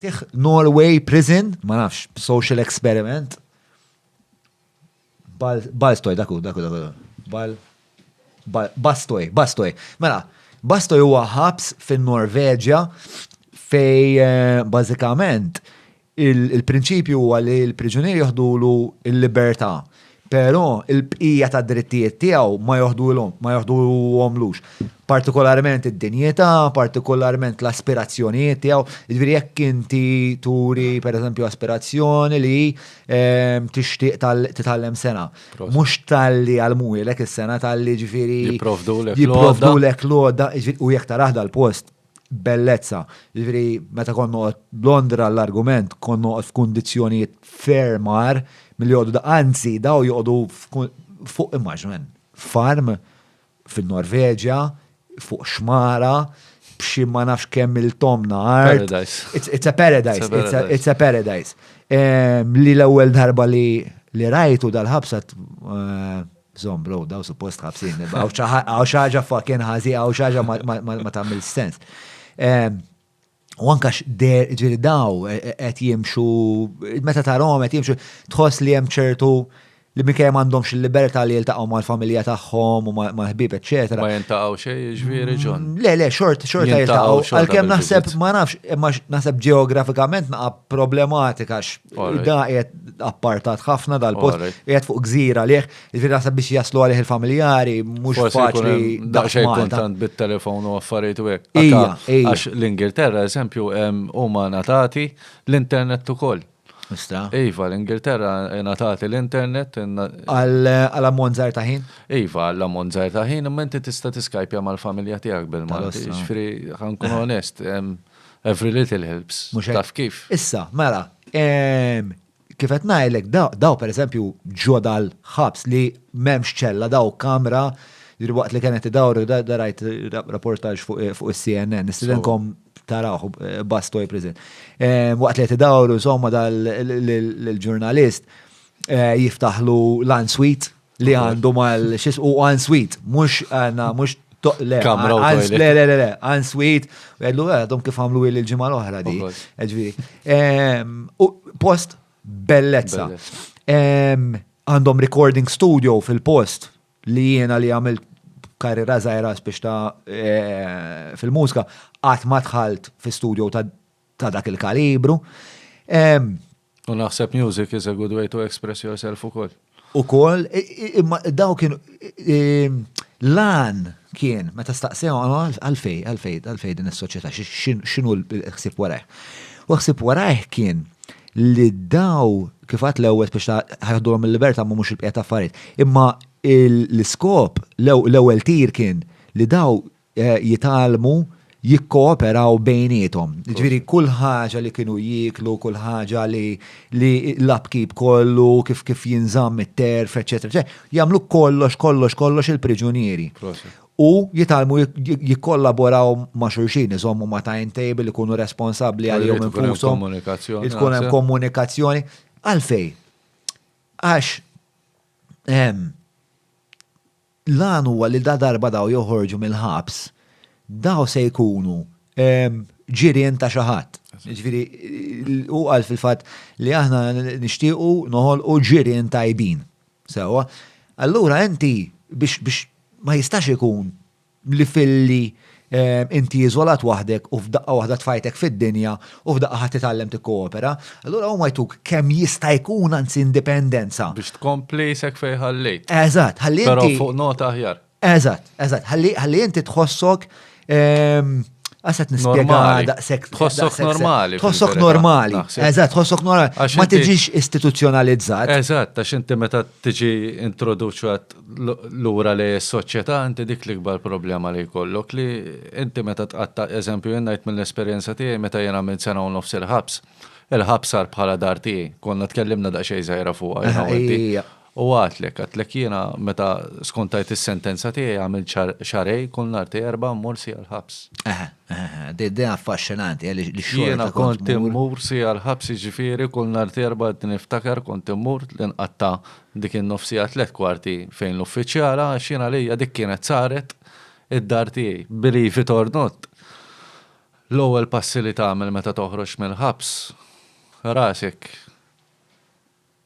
Tih Norway prison, ma nafx, social experiment. Bal, balstoj, daku, daku, daku, bal, bal, bastoj, bastoj. Mela, bastoj huwa ħabs fin norveġja fej eh, bażikament il-prinċipju huwa li l-priġunier joħdulu l-libertà Però, il-bqija tad-drittijiet tiegħu ma joħduhomlux, partikolarment id-dinjità, partikolarment l-aspirazzjonijiet tiegħu. Jiġifieri jekk inti turi pereżempju aspirazzjoni li tixtieq titgħallem sengħa, mhux talli jgħallmuhielek is-sengħa, talli jiġifieri jipprovdulek l-għodda u jekk tarah dal-post, bellezza. Jiġifieri meta kont noqgħod Londra l-argument kont noqgħod f'kundizzjonijiet ferm għar milli joqgħodu da. Anzi, daw joqogħdu fuq immaġmen farm fin-Norveġja, fuq xmara, b'xi ma nafx kemm il-tomna art. It's a paradise. It's a paradise. Li l-ewwel darba li rajtu dal-ħabsa eh, Zom bro, daw suppost ħabsin. Għaw xaġa fucking ħazi, għaw xaġa ma tamil sens. U anka x'der ġiri daw e, e, qed jimxu, meta tarom qed jimxu, tħoss li hemm ċertu li minkejja m'għandhomx il-libertà li jiltaqgħu mal-familja tagħhom u mal-ħbieb eċetera. Ma jintaqgħu xejn jiġifieri ġon. Mm, le, le, xort, xort jiltaqgħu. Għalkemm naħseb ma nafx, imma naħseb ġeografikament naqa' problematika Da qiegħed appartat ħafna dal-post, qiegħed fuq gżira liħ, il-fir naħseb biex jaslu għalih il-familjari, mhux faċli. Daqsxejn kuntant bit-telefon u affarijiet u hekk. Għax l-Ingilterra, eżempju, huma natati l-internet ukoll. Nista. Iva, l-Ingilterra natati l-internet. Għal ammont żgħar ta' ħin? Iva, għal ammont żgħar ta' ħin, imma inti tista' tiskajpja mal-familja tiegħek bil-Malti. Ġifieri, ħankun onest, Every little helps. Mhux hekk? Taf kif? Issa, mela, ehm, kif qed ngħidlek da- daw pereżempju ġo dal-ħabs li m'hemmx ċella daw kamra jiġri waqt li kienet idawru da da rajt ra- rapportaġġ fuq fuq is-CNN, nistidenkom tarawh eh, Bastoy Prison. Eh, Waqt li qed idawru insomma dal l-ġurnalist eh, jiftaħlu l-answit Li għandu mal xis u għan sweet, mux għana, mux le, le, le, le, għan sweet, u għedlu għadhom kif għamlu il-ġimma l-oħra di. Post bellezza. Għandhom recording studio fil-post li jena li għamilt karriera zaħira biex ta' eh, fil-mużika, għat ma tħalt fi studio ta' dak il-kalibru. U naħseb music is a good way to express yourself ukoll. Ukoll, imma daw kien lan kien meta staqsew għalfej, għalfej, għalfej din is-soċjetà x'inhu l-ħsieb warajh. U ħsieb warajh kien li daw kif għad l-ewwel biex ħaħdulhom il-libertà ma mhux il-bqija ta' affarijiet. Imma l-iskop l-ewwel tir kien li daw jitgħallmu jikkooperaw bejniethom. Jiġifieri kull ħaġa li kienu jieklu, kull ħaġa li l-upkeep kollu, kif kif jinżamm it-terf, eċċetera, jagħmlu kollox, kollox, kollox il-priġunieri. U jitgħallmu jikkollaboraw ma' xulxin, iżommu ma' timetable, ikunu responsabbli għalihom infushom. Tkun hemm komunikazzjoni. Għalfejn? Għax L-għan huwa li ladarba dawn joħorġu mill-ħabs, dawn se jkunu ġirien ta' xi ħadd. Jiġifieri hu qal fil-fatt li aħna nixtiequ noħolqu ġirien tajbin. Sewwa. Allura inti biex ma jistax ikun li filli inti iżolat waħdek u f'daqqa waħda tfajtek fid-dinja u f'daqqa ħadd titgħallem tikkoopera, allura huma jtuk kemm jista' jkun anzi indipendenza. Biex tkompli sek fejn ħallejt. Eżatt, ħalli. Però fuq nota aħjar. Eżatt, eżatt, ħalli inti tħossok ehm, Għasat nispjega daqsek. Tħossok normali. Tħossok normali. Eżat, tħossok normali. Ma tiġix istituzjonalizzat. Eżat, għax inti meta tiġi introduċat lura li s-soċjetà inti dik l-ikbar problema li jkollok li inti meta tqatta' eżempju jien ngħid mill-esperjenza tiegħi meta jien għamilt sena u nofs il-ħabs, il-ħabs sar bħala dar tiegħi. Konna tkellimna daqsxejn żgħira fuqha jiena u inti. U għidtlek, għidtlek jiena meta skontajt is-sentenza tiegħi għamilt xahrejn kull nhar ta' Erbgħa mmur siegħa l-ħabs. Dejja affaxxinanti li xogħol. Jiena kont immur siegħa l-ħabs jiġifieri kull nhar ta' Erbgħa niftakar kont immur li nqatta' Dik in-nofsija tliet kwarti fejn l-uffiċjala għax jien għalija dik kienet saret id-dar tiegħi. Believe it or not, l-ewwel passi li tagħmel meta toħroġ mill-ħabs, rasek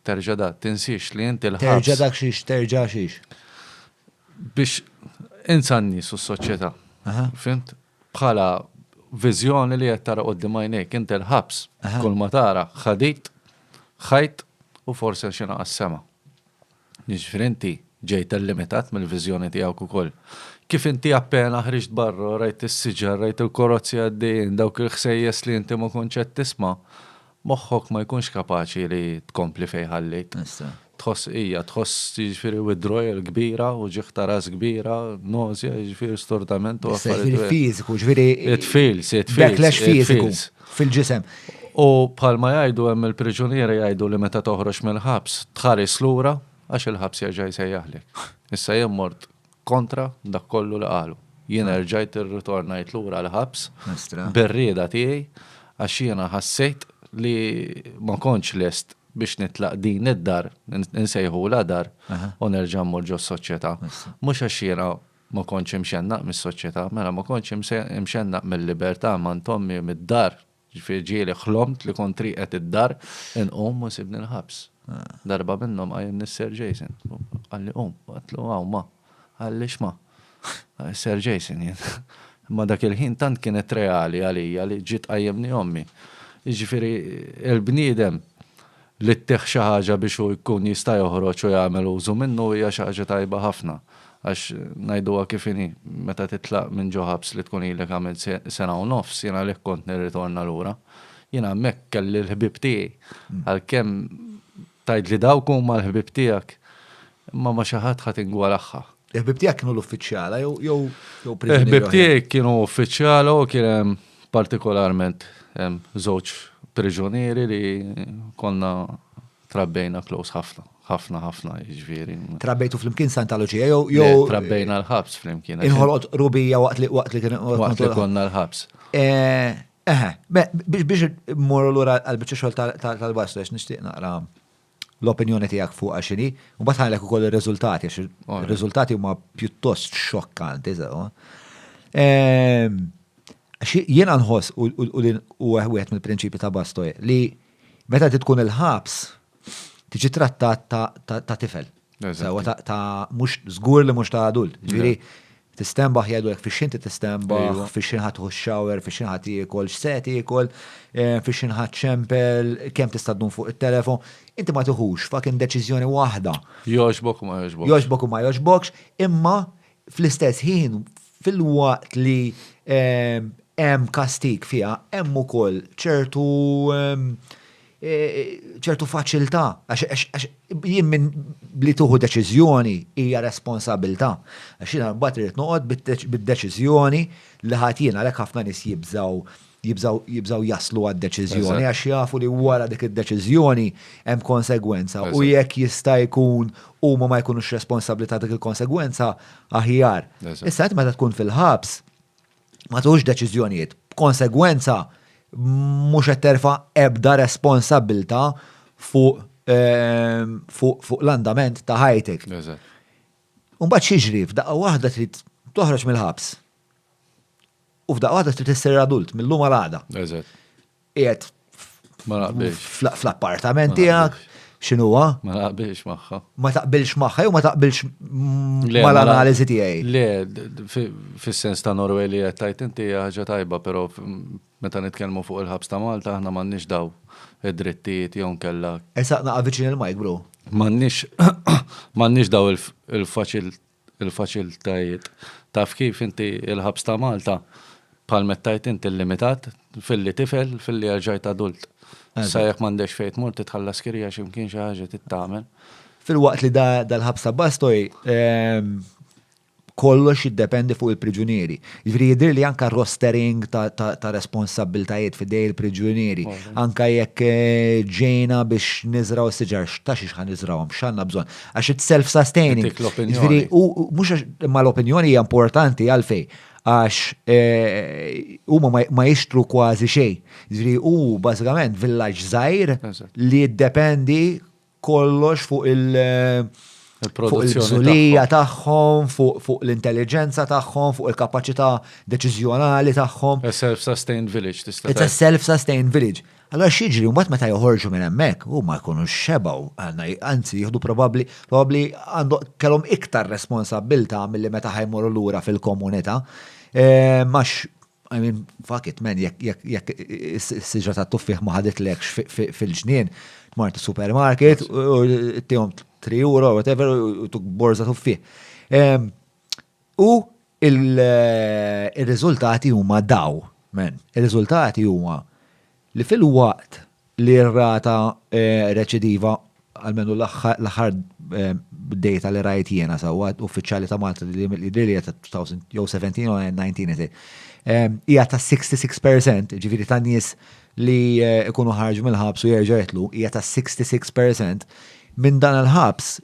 terġa' da, tinsiex li inti l-ħabs. Terġa' dak xiex, terġa' xiex? Biex insa n-nies u s-soċjetà. Fimt? Bħala viżjoni li qed tara quddiem għajnejk inti l-ħabs, kull ma tara ħadid, ħajt u forsi għax ingħaqad sema. Jiġifieri inti ġejt illimitat mill-viżjoni tiegħek ukoll. Kif inti appena ħriġt barra u rajt is-siġar, rajt il-korozzi għaddejjin, dawk il-ħsejjes li inti ma kontx qed tisma', Moħħok ma jkunx kapaċi li tkompli fejn ħalliek. Tħoss qija, tħoss jiġifieri withdrawal kbira, uġigħ ta' ras kbira, nausea, jiġifieri stordament u affarijiet. Jiġifieri fiżiku, jiġifieri. It feels, it feels. Backlash fiżiku fil-ġisem. U bħalma jgħidu hemm il-priġunieri jgħidu li meta toħroġ mill-ħabs tħares lura għax il-ħabs jerġa' jsejjaħlek. Issa jien mort kontra dak kollu li qalu. Jiena rġajt irritornajt lura l-ħabs bir-rieda tiegħi għax jiena ħassejt li ma kontx lest biex nitlaq din id-dar, insejħulha dar, u nerġa' mmur ġos-soċjetà. Mhux għax jiena ma kontx imxennaq mis-soċjetà, mela ma kontx imxennaq mil-libertà m'għand ommi, mid-dar, Ġifieri ġieli ħlomt li kont rieqed id-dar, inqum u jsibni l-ħabs. Darba minnhom qajjimni s-Sir Jason. Qalli qum. Għedtlu hawn ma. Qalli x'ma. Sir Jason jien. Imma dak il-ħin tant kienet reali għalija li ġiet tqajjimni ommi. Jiġifieri l-bniedem Li ttih xi ħaġa biex hu jkun jista' joħroġ u jagħmel użu minnu hija xi ħaġa tajba ħafna. Għax, ngħiduha kif inhi, meta titlaq minn ġo ħabs li tkun ilek għamilt sena u nofs, jien għalhekk kont nirritorna lura. Jien hemmhekk kelli l-ħbieb tiegħi. Għalkemm tgħid li dawk huma l-ħbieb tiegħek, imma ma' xi ħadd ħa tingwalaħħa. Il-ħbib tiegħek kienu l-uffiċjala jew jew jew priġunieri Il-ħbib oħrajn? tiegħi kienu uffiċjala u kien hemm partikolarment hemm żewġ priġunieri li konna trabbejna close ħafna, ħafna ħafna jiġifieri. Trabbejtu flimkien Sant'Aloġija jew Le, jew Trabbejna l-ħabs flimkien. għax Inħolqot rubija waqt li waqt li kien Waqt li konna l-ħabs. Eh, Eħe, be- biex biex mmorru lura għal biċċa xogħol tal- tal- tal-baslu għax nixtieq naqra l-opinjoni tiegħek fuqha x'inhi, u mbagħad ħalek ukoll ir-riżultati għax ir-riżultati huma pjuttost xokkanti sewa. Ehm, jiena nħoss u wieħed mill-prinċipji ta' Bastoj li meta tkun il-ħabs tiġi trattat ta' tifel. Sewa ta' mhux żgur li mhux ta' adult. Ġifieri tistenbaħ jgħidulek fix inti tistenbaħ, fix inħadd tħu shower, fix inħadd jiekol, x'se tiekol, eh, fix inħadd ċempel, kemm tista' ddum fuq it-telefon. Inti ma tiħux fakin deċiżjoni waħda. Jogħġbok u ma jogħġbokx. Jogħġbok u ma jogħġbokx, imma Fl-istess ħin, filwaqt li hemm kastig fiha, hemm ukoll ċertu ċertu faċilità għax jien minn li tieħu deċiżjoni hija responsabilità. Għax jiena mbagħad irid noqgħod bid-deċiżjoni li ħadt jien għalhekk ħafna nies jibżgħu jibżaw jaslu għad deċiżjoni għax jafu li wara dik id-deċiżjoni hemm konsegwenza u jekk jista' jkun huma ma jkunux responsabbli ta' dik il-konsegwenza aħjar. Issa qed meta tkun fil-ħabs ma tuħux deċiżjonijiet. Konsegwenza mhux qed terfa' ebda responsabbilta fuq ehm, fuq l-andament ta' ħajtek. Mbagħad xiġri f'daqqa waħda trid toħroġ mill-ħabs. U f'daqqa waħda trid issir adult mill-lum għal għada. Eżatt. Qiegħed Ma naqbilx. fl- fl-appartament tiegħek, x'inhuwa? Ma naqbilx magħha. Ma taqbilx magħha jew ma taqbilx m- Le, mal-analiżi tiegħi. Le, d- d- fi- fis-sens ta' Norway li qed tajt inti hija ħaġa tajba, però f- meta nitkellmu fuq il-ħabs ta' Malta aħna m'għandniex daw id-drittijiet jew nkella Esaq naqa' viċin il-mike, bro. m'għandniex m'għandniex daw il- il-faċil il-faċilitajiet. Taf kif, inti il-ħabs ta' Malta, bħal meta għidt int, illimitat, filli tifel, filli erġajt adult. Sa jekk m'għandekx fejn tmur titħallas kirja xi mkien xi ħaġa trid tagħmel. Filwaqt li dal-ħabs ta' Bastoj kollox jiddependi fuq il-priġunieri. Jiġifieri jidhirli anke rostering ta' responsabbiltajiet f'idejn il-priġunieri. Anke jekk ġejna biex niżraw is-siġar, ta' xiex ħa niżrawhom, x'għandna bżonn. Għax it's self-sustaining. Ġviri, u mux ma l-opinjoni hija importanti għalfej. Għax eh, huma ma jixtru kważi xej. Ġviri, u bażikament villaġġ żgħir li jiddependi kollox fuq il- eh, fuq il-bżulija tagħhom, fuq l-intelligenza tagħhom, fuq il-kapaċità deċiżjonali tagħhom. A self-sustained village tista' It's a self-sustained village. Allura x'jiġri mbagħad meta joħorġu minn hemmhekk, huma jkunu xebgħu, anzi jieħdu probabbli, probabbli għandhom kellhom iktar responsabbiltà milli meta ħa jmorru lura fil-komunità. Għax, I mean, fuck it, man, jekk is-siġra tat-tuffieħ ma ħaditlekx fil-ġnien, tmort supermarket, u tihom 3 euro, whatever, u tuk borza tuffieħ. U Ir-riżultati huma daw, men. Ir-riżultati huma li filwaqt li r-rata reċidiva, almenu l-aħħar data li rajt jiena sewwa, uffiċjali ta' Malta li jidhirli hija ta' 2000 jew 17 jew 19 hija ta' 66%, ġifieri ta' nies li jkunu ħarġu mill-ħabs u jerġgħu jidħlu hija ta' 66%, minn dan il-ħabs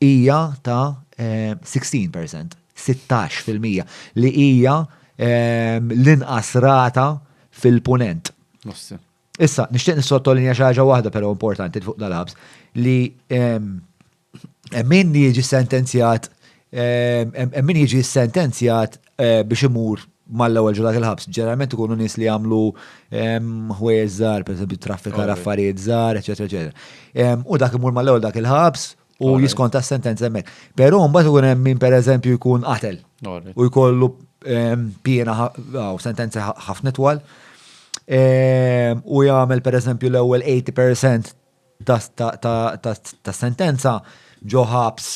hija ta' 16%, 16 fil-mija, li hija l-inqas rata fil-Punent. Issa, nixtieq nissottolinja xi ħaġa waħda però importanti fuq dal-ħabs li min jiġi sentenzjat min jiġi sentenzjat eh, biex imur mal-ewwel ġulat il-ħabs. Ġeneralment ikunu nies li jagħmlu ehm, ħwejjeż żgħar, pereżempju traffika affarijiet żgħar, eċetera, eċetera. Ehm, u dak imur mal-ewwel dak il-ħabs u jiskonta s-sentenza hemmhekk. Però mbagħad ikun hemm min pereżempju jkun qatel u jkollu ehm, piena u sentenza ħafna twal. U jagħmel pereżempju l-ewwel 80% ta' sentenza ġo ħabs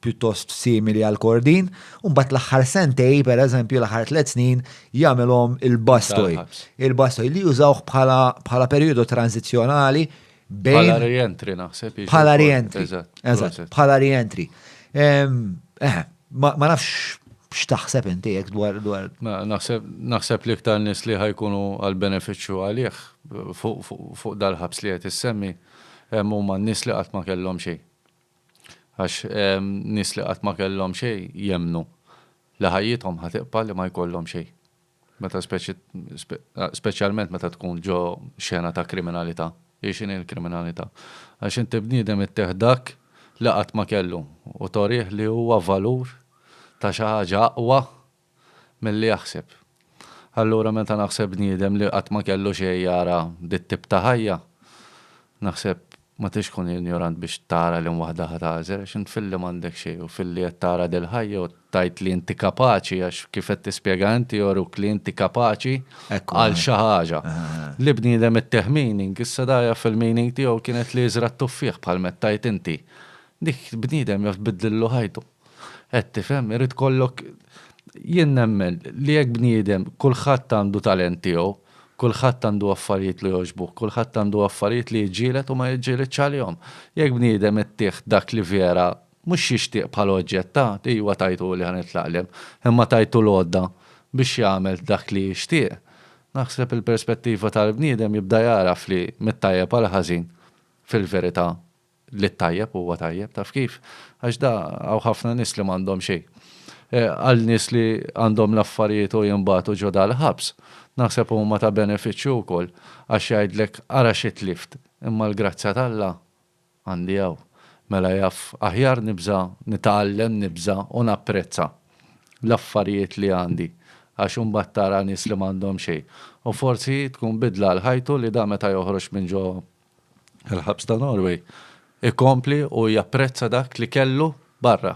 pjuttost simili għal Kordin, u mbagħad l-aħħar sentej, pereżempju l-aħħar tliet snin, jagħmilhom il-bastoj. Il-bastoj li jużawh bħala perjodu tranżizzjonali bejn. Bħala rientri naħseb. Bħala rientri. Eżatt. Bħala rientri. Ma nafx x'taħseb inti jekk dwar dwar. Naħseb li iktar nies li ħajkunu għal benefiċċju għalih fuq dal-ħabs li qed issemmi hemm huma n-nies li qatt ma kellhom xejn. Għax nies li qatt ma kellhom xejn jemmnu li ħajjithom ħa tibqa' li ma jkollhom xejn. Meta speċjalment meta tkun ġo xena ta' kriminalità. Hi x'inhi l-kriminalità? Għax inti bniedem ittih dak li qatt ma kellu u torih li huwa valur ta' xi ħaġa aqwa milli jaħseb. Allura meta naħseb bniedem li qatt ma kellu xejn jara dit-tip ta' ħajja, naħseb Ma tridx tkun injorant biex tara liema waħda ħa tagħżel, għax int filli m'għandek xejn u filli qed tara dil-ħajja u tgħid li inti kapaċi għax kif qed tispjega inti joruk li inti kapaċi għal xi ħaġa. Li bniedem ittieħ meaning, issa da jaf il-meaning tiegħu kienet li jiżra' t-tuffieħ bħal m'qed tgħid inti. Dik bniedem jaf tbiddlillu ħajtu. Qed tifhem? Irid ikollok Jien nemmen li jekk bniedem kulħadd għandu talent tiegħu, kulħadd għandu affarijiet li jogħġbuh, kulħadd għandu affarijiet li jiġġieled u ma jiġġieledx għalihom. Jekk bniedem ittih dak li vera mhux jixtieq bħala oġġett ta', ijwa tajtuli ħa nitlaq l-hemm, imma tajtu l-għodda biex jagħmel dak li jixtieq, naħseb il-perspettiva tal-bniedem jibda jagħraf li mit-tajjeb għall-ħażin fil-verità li t-tajjeb huwa tajjeb, taf kif? Għax da hawn ħafna nies li m'għandhom xejn. Għal nies li għandhom l-affarijiet u jinbagħtu ġo dal-ħabs, naħseb huma ta' benefiċċju wkoll għax jgħidlek ara xi tlift, imma l-grazzja t'Alla għandi hawn. Mela jaf, aħjar nibża' nitgħallem nibża' u napprezza l-affarijiet li għandi għax imbagħad tara nies li m'għandhom xejn u forsi tkun bidla għal ħajtu li da meta joħroġ minn ġo Il-ħabs ta' Norway ikompli u japprezza dak li kellu barra.